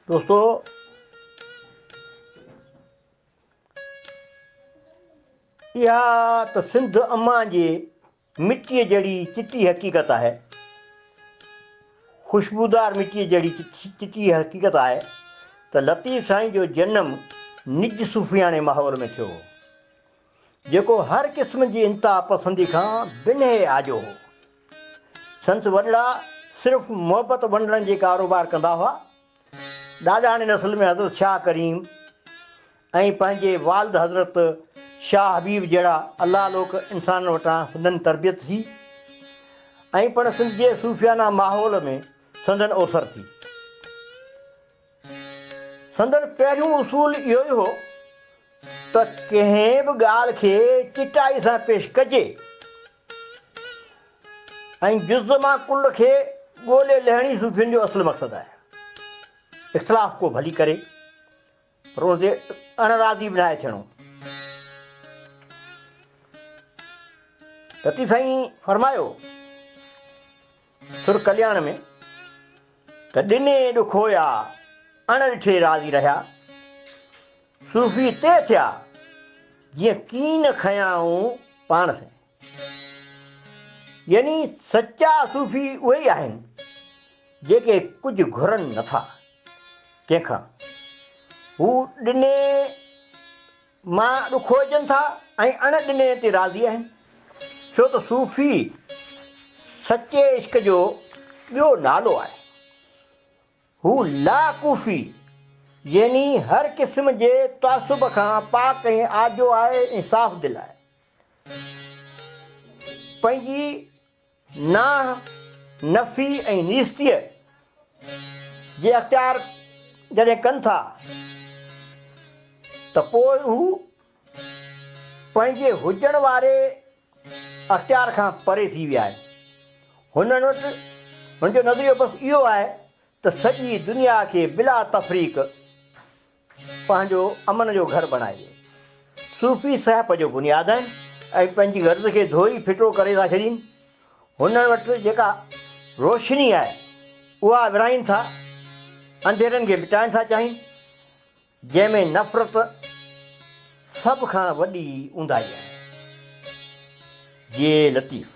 دوستو اها ته سنڌ اما جي مٽيء جهڙي چٽي حقيقت آهي خوشبودار مٽيء جهڙي چٽي حقيقت آهي ته لطيف سائين جو جنم نج صوفياڻي ماحول ۾ ٿيو هو جيڪو هر قسم جي انتها پسندي کان بنهه آجو هو. سندس وڏڙا صرف محبت ونڊڻ جي ڪاروبار ڪندا هئا. ڏاڏاڻي نسل ۾ حضرت شاهه ڪريم ۽ پنهنجي والد حضرت شاهه حبيب جهڙا الله لوڪ انسانن وٽان سندن تربيت ٿي ۽ پڻ سنڌ جي صوفيانه ماحول ۾ سندن اوسر ٿي. سندن پهريون اصول اهو ئي هو ته ڪنهن به ڳالهه کي چٽائي سان پيش ڪجي ۽ جز مان ڪل کي ڳولي لهڻي صوفين جو اصل مقصد آهي. اختلاف ڪو ڀلي ڪري پر ان تي اڻ راضي به ناهي ٿيڻو. رتي سائين فرمايو سر ڪلياڻ ۾، ته ڏني ڏکويا اڻ ڏٺي راضي رهيا، صوفي تي ٿيا، جيئن ڪين کنيائون پاڻ سين. يعني سچا صوفي اهي ئي آهن، جيڪي ڪجهه گهرن نٿا ڪنهن کان، هو ڏني. مان ڏکو اچن ٿا ۽ اڻ ڏني تي راضي آهن، ڇو ته صوفي سچي عشق جو ٻيو نالو آهي. هو لا ڪوفي يعني هر قسم جي تعصب کان پاڪ ۽ آجو آهي ۽ صاف دل آهي. پنهنجي. ناهه، نفي ۽ نيستيء جي اختيار جڏهن ڪن ٿا ته پوء هو پنهنجي هجڻ واري اختيار کان پري ٿي ويا آهن. هنن وٽ هن جو نظريو بس اهو آهي ته سڄي دنيا کي بلا تفريق، پنهنجو امن جو گهر بڻائجي. صوفي سهپ جو بنياد آهن ۽ پنهنجي غرض کي ڌوئي ڦٽو ڪري ٿا ڇڏين. هنن وٽ جيڪا روشني آهي اها ورهائين ٿا، انڌيرن کي مٽائڻ ٿا چاهين، جنهن ۾ نفرت سڀ کان وڏي اونداهي آهي. جي لطيف.